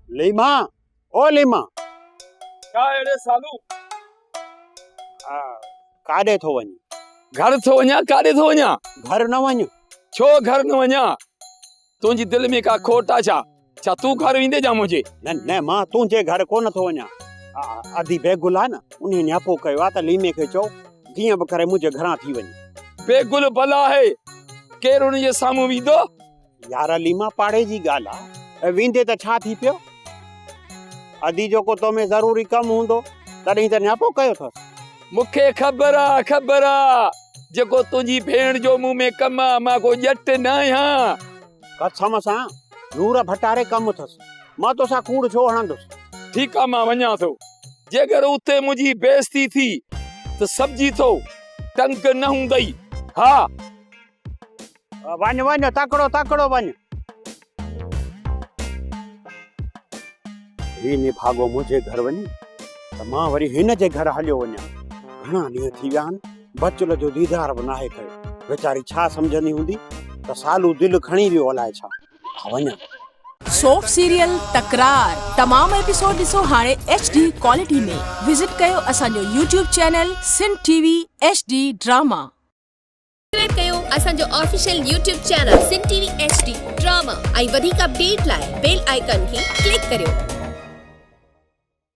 ليما او ليما ڇا اهڙي سالو ڪاڏي ٿو وڃي گھر ٿو وڃا ڪاڏي ٿو وڃا گھر نه وڃ ڇو گھر نه وڃا تنهنجي دل ۾ ڪا کوٽ آ ڇا ڇا تون گھر ويندي جا منهنجي نه نه مان تنهنجي گھر ڪو نه ٿو وڃا ادي بيگل آ نه ان نياپو ڪيو آ ته ليمي کي چو جيئن به ڪري منهنجي گھران ٿي وڃي بيگل بلا آهي ڪير ان جي سامهون ويندو يار عليما پاڙي جي ڳالهه آ ۽ ويندي ته ڇا ٿي پيو؟ ادي جيڪو تو ۾ ضروري ڪم هوندو تڏهين ته نياپو ڪيو ٿس. مون کي خبر آ خبر آ جيڪو تنهنجي ڀيڻ جو مون ۾ ڪم آ مان ڪو ڄٽ نه آهيان. قسم سان نور ڀٽاري ڪم ٿس مان توسان ڪوڙ ڇو هڻندس. ٺيڪ آ مان وڃان ٿو جيڪر اتي منهنجي بيعزتي ٿي ته سمجهي ٿو ٽنگ نه هوندئي ها. وڃ وڃ تڪڙو تڪڙو وڃ. هي نڀاڳو منهنجي گهر وڃي ته مان وري هن جي گهر هليو وڃان. گهڻا ڏينهن ٿي ويا آهن بچل جو ديدار به ناهي ڪيو. ويچاري ڇا سمجهندي هوندي ته سالو دل کڻي ويو الائي ڇا. آء وڃان. سوپ سيريل تڪرار تمام ايپيسوڊ ڏسو هاڻي ايڇ ڊي ڪوالٽي ۾ وزٽ ڪيو اسان جو YouTube channel Sindh T V H D drama. Subscribe ڪيو اسان جو official YouTube channel Sindh T V H D drama ۽ وڌيڪ اپڊيٽ لاء بيل آئيڪان کي ڪلڪ ڪريو.